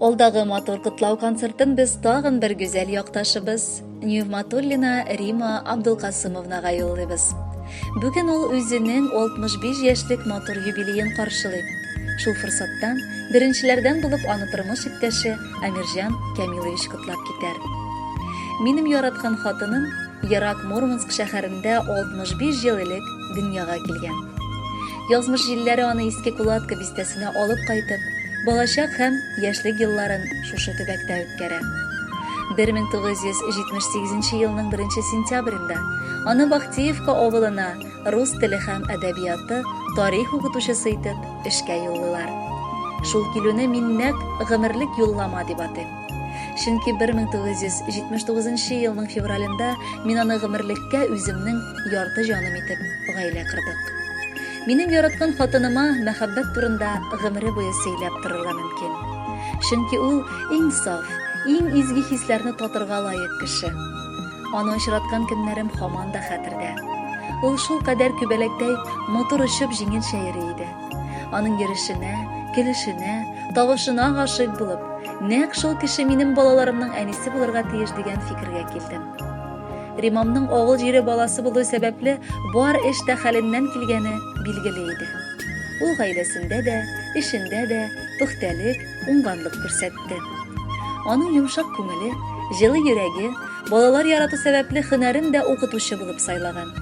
Алдагы матур котлау концертын без тагын бер гүзәл якташыбыз Ньюматуллина Рима Абдулкасымовнага юллыйбыз. Бүген ул үзенең 65 яшьлек матур юбилеен каршылый. Шул форсаттан беренчеләрдән булып аны тормыш иптәше Амирҗан Камилович котлап китәр. Минем яраткан хатыным Ярак Мурманск шәһәрендә 65 ел элек дөньяга килгән. Язмыш җилләре аны иске Кулатка бистәсенә алып кайтып, балачак һәм яшьлек елларын шушы төбәктә үткәрә. 1978 елның 1 сентябрендә аны Бахтиевка авылына рус теле һәм әдәбияты тарих укытучысы итеп эшкә юллыйлар. Шул килүне мин нәкъ гомерлек юллама дип атыйм. Чөнки 1979 елның февралендә мин аны гомерлеккә үземнең ярты җаным итеп гаилә кырдык. Минем яраткан хатыныма мәхәббәт турында гомере буе сөйләп торырга мөмкин. Чөнки ул иң саф, иң изге хисләрне татырга лаек кеше. Аны очраткан көннәрем һаман да хәтердә. Ул шул кадәр күбәләктәй матур очып җиңелчә йөри иде. Аның йөрешенә, көлешенә, тавышына гашыйк булып, нәкъ шул кеше минем балаларымның әнисе булырга тиеш дигән фикергә килдем. Римамның авыл җире баласы булу сәбәпле бар эш тә хәленнән килгәне билгеле иде. Ул гаиләсендә дә, эшендә дә пөхтәлек, уңганлык күрсәтте. Аның йомшак күңеле, җылы йөрәге, балалар ярату сәбәпле хөнәрен дә укытучы булып сайлаган.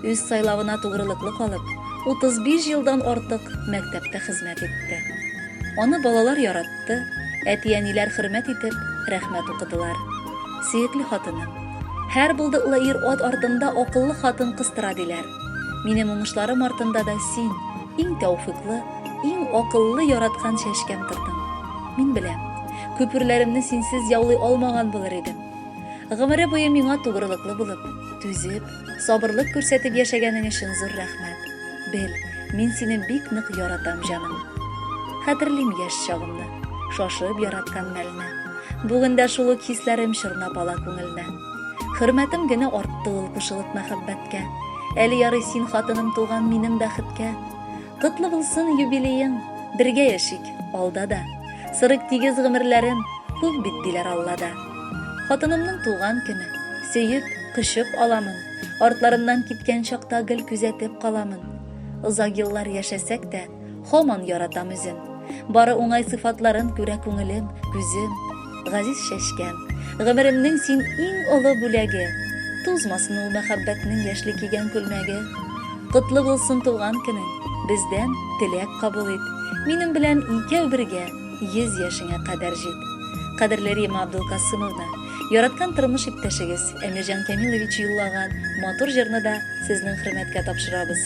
үз сайлавына тугрылыклы калып, 35 елдан артык мәктәптә хезмәт итте. Аны балалар яратты, әти-әниләр хөрмәт итеп, рәхмәт укыдылар. Сөекле хатыным, һәр булдыклы ир ат артында акыллы хатын кыстыра диләр. Минем уңышларым артында да син, иң тәүфыйклы, иң акыллы яраткан чәчкәм тордың. Мин беләм, күперләремне синсез яулый алмаган булыр идем. Гомере буе миңа тугрылыклы булып, түзеп, Сабырлык күрсәтеп яшәгәнең өчен зур рәхмәт. Бел, мин сине бик нык яратам, җаным. Хәтерлим яшь чагымны, шашып яраткан мәлне. Бүген дә шул ук хисләрем чорнап ала күңелне. Хөрмәтем генә артты ул кушылып мәхәббәткә. Әле ярый син хатыным туган минем бәхеткә. Котлы булсын юбилеең, бергә яшик, алда да. Сырык тигез гомерләрен, күп бит диләр Аллада. Хатынымның туган көне, сөеп, кочып аламын. Артларыннан киткән чакта гел күзәтеп каламын. Озак еллар яшәсәк тә, һаман яратам үзен. Бары уңай сыйфатларын күрә күңелем, күзем. газиз чәчкәм, Гомеремнең син иң олы бүләге, Тузмасын ул мәхәббәтнең яшьли кигән күлмәге. Котлы булсын туган көнең, бездән теләк кабул ит, Минем белән икәү бергә йөз яшеңә кадәр җит. Кадерле Рима Абдулкасымовна, яраткан тормыш иптәшегез Әмирҗан Кәмилович юллаган матур җырны да сезнең хөрмәткә тапшырабыз.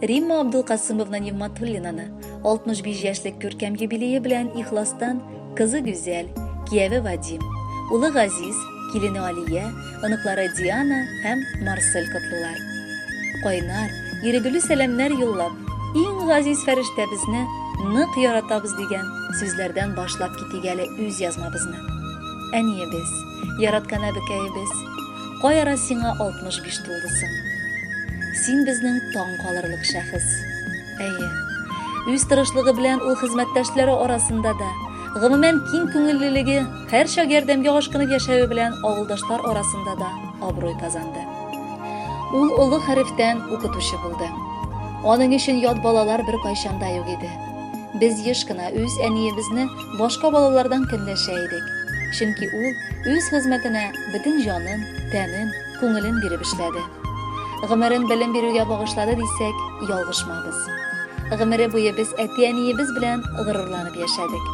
Римма Абдулкасымовна Нигматуллинаны 65 яшьлек күркәм юбилее белән ихластан кызы Гүзәл, кияве Вадим, улы Газиз, килене Алия, оныклары Диана һәм Марсель котлыйлар. Кайнар, ирегле сәламнәр юллап, иң газиз фәрештәбезне нык яратабыз дигән сүзләрдән башлап китик әле үз язмабызны. Әниебез, яраткан әбекәебез, Каяра сиңа 65 тулды соң? Син безнең таң калырлык шәхес. Әйе. Үз тырышлыгы белән ул хезмәттәшләре арасында да, гомумән киң күңеллелеге, һәрчак ярдәмгә ашкынып яшәве белән авылдашлар арасында да абруй казанды. Ул олы хәрефтән укытучы булды. Аның өчен ят балалар беркайчан да юк иде. Без еш кына үз әниебезне Башка балалардан көнләшә идек. Чөнки ул үз хезмәтенә бөтен җанын, тәнен, күңелен биреп эшләде. Гомерен белем бирүгә багышлады дисәк, ялгышмабыз. Гомере буе без әти-әниебез белән горурланып яшәдек.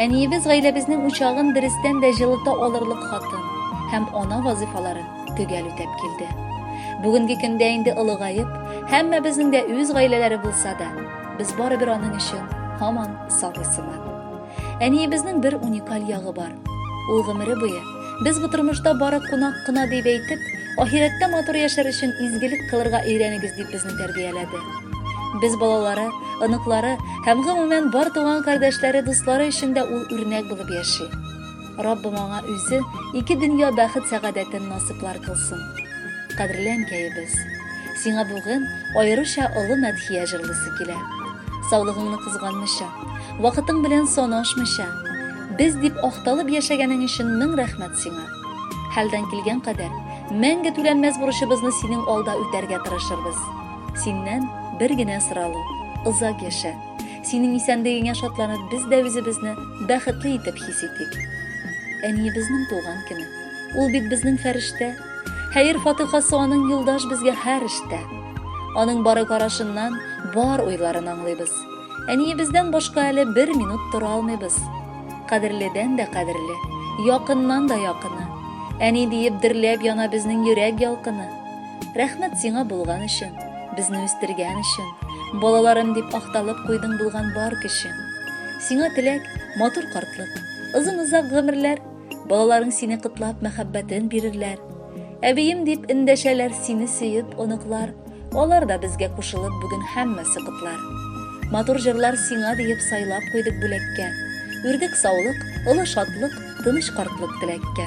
Әниебез гаиләбезнең учагын дөрестән дә җылыта алырлык хатын һәм ана вазыйфаларын төгәл үтәп килде. Бүгенге көндә инде олыгаеп, һәммәбезнең дә үз гаиләләре булса да, без барыбер аның өчен һаман сабый сыман. Әниебезнең бер уникаль ягы бар. Ул гомере буе без бу тормышта бары кунак кына дип әйтеп, ахирәттә матур яшәр өчен изгелек кылырга өйрәнегез дип безне тәрбияләде. Без балалары, оныклары һәм гомумән бар туган кардәшләре, дуслары өчен дә ул үрнәк булып яши. Раббым аңа үзе ике дөнья бәхет сәгадәтен насыплар кылсын. Кадерле әнкәебез, сиңа бүген аеруча олы мәдхия җырлыйсы килә. Саулыгыңны кызганмыйча, вакытың белән санашмыйча, без дип акталып яшәгәнең өчен мең рәхмәт сиңа. Хәлдан килгән кадәр, мәңге түләнмәс бурычыбызны синең алда үтәргә тырышырбыз. Синнән бер генә соралу, озак яшә! Синең исәнлегеңә шатланып, без дә үзебезне бәхетле итеп хис итик. Әниебезнең туган көне. Ул бит безнең фәрештә. Хәер фатыйхасы аның юлдаш безгә һәр эштә. Аның бары карашыннан бар уйларын аңлыйбыз. Әниебездән башка әле бер минут тора алмыйбыз. Кадерледән дә кадерле, якыннан да якыны. Әни диеп дөрләп яна безнең йөрәк ялкыны. Рәхмәт сиңа булган өчен, безне үстергән өчен, балаларым дип акталып куйдың булган бар көчен. Сиңа теләк, матур картлык, озын-озак гомерләр, балаларың сине кытлап мәхәббәтен бирерләр. Әбием дип эндәшәләр сине сөеп оныклар, алар да безгә кушылып бүген һәммәсе котлар. Матур җырлар сиңа диеп сайлап куйдык бүләккә. Үрдек саулык, олы шатлык, тыныч картлык теләккә.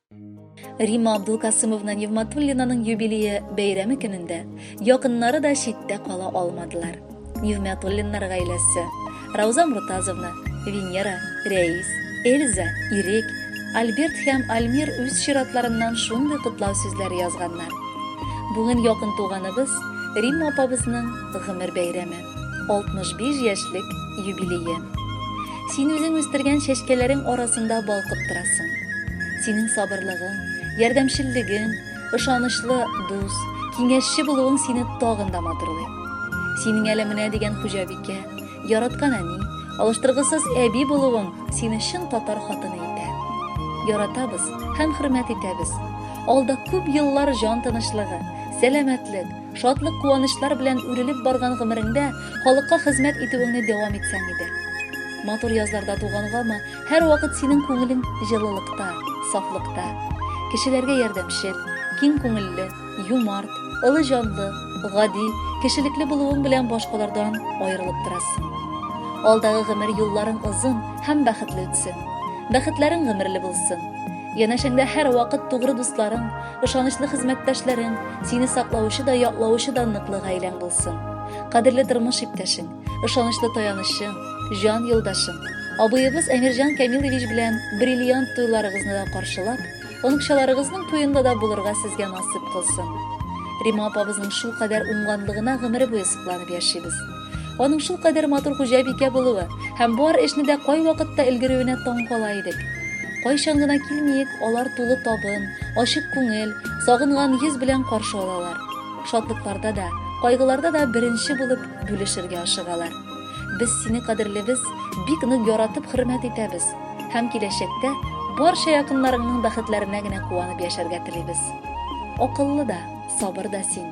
Рима Абдулкасымовна Невматуллинаның юбилее бәйрәме көнендә якыннары да читтә кала алмадылар. Невматуллиннар гаиләсе Рауза Муртазовна, Венера, Рәис, Эльза, Ирек, Альберт һәм Альмир үз чиратларыннан шундый котлау сүзләре язганнар. Бүген якын туганыбыз Рима апабызның гомер бәйрәме. 65 яшьлек юбилее. Син үзең үстергән чәчкәләрең арасында балкып торасың. Синең сабырлыгың, ярдәмчеллегең, ышанычлы дус, киңәшче булуың сине тагын да матурлый. Синең әле менә дигән хуҗабикә, яраткан әни, алыштыргысыз әби булуың сине чын татар хатыны итә. Яратабыз һәм хөрмәт итәбез. Алда күп еллар җан тынычлыгы, сәламәтлек, Шатлык-куанычлар белән үрелеп барган гомереңдә халыкка хезмәт итүеңне дәвам итсәң иде. Матур язларда тугангамы, һәрвакыт синең күңелең җылылыкта, сафлыкта. Кешеләргә ярдәмчел, киң күңелле, юмарт, олы җанлы, гади, кешелекле булуың белән башкалардан аерылып торасың. Алдагы гомер юлларың озын һәм бәхетле үтсен. Бәхетләрең гомерле булсын. Янәшәңдә һәрвакыт тугры дусларың, Ышанычлы хезмәттәшләрең, сине саклаучы да, яклаучы да ныклы гаиләң булсын. Кадерле тормыш иптәшең, ышанычлы таянычың, җан юлдашың, абыебыз Әмирҗан Камилович белән бриллиант туйларыгызны да каршылап, оныкчаларыгызның туенда да булырга сезгә насыйп кылсын. Рима апабызның шулкадәр уңганлыгына гомере буе сокланып яшибез. Аның шул кадәр матур хуҗабикә булуы һәм бар эшне дә кайвакытта өлгерүенә таң кала идек. Кайчан гына килмиек, алар тулы табын, ачык күңел, сагынган йөз белән каршы алалар. Шатлыкларда да, кайгыларда да беренче булып бүлешергә ашыгалар. Без сине кадерлебез, бик нык яратып хөрмәт итәбез һәм киләчәктә барча якыннарыңның бәхетләренә генә куанып яшәргә телибез. Акыллы да, сабыр да син.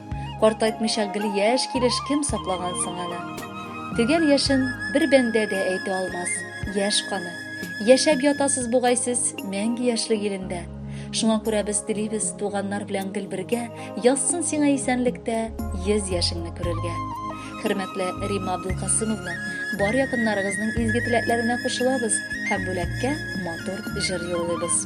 Картайтмыйча гел яшь килеш кем саклаган соң аны? Төгәл яшен бер бәндә дә әйтә алмас. Яшь каны. Яшәп ятасыз бугай сез мәңге яшьлек илендә. Шуңа күрә без телибез туганнар белән гел бергә язсын сиңа исәнлектә йөз яшеңне күрергә. Хөрмәтле Римма Абдулкасымовна, бар якыннарыгызның изге теләкләренә кушылабыз һәм бүләккә матур җыр юллыйбыз.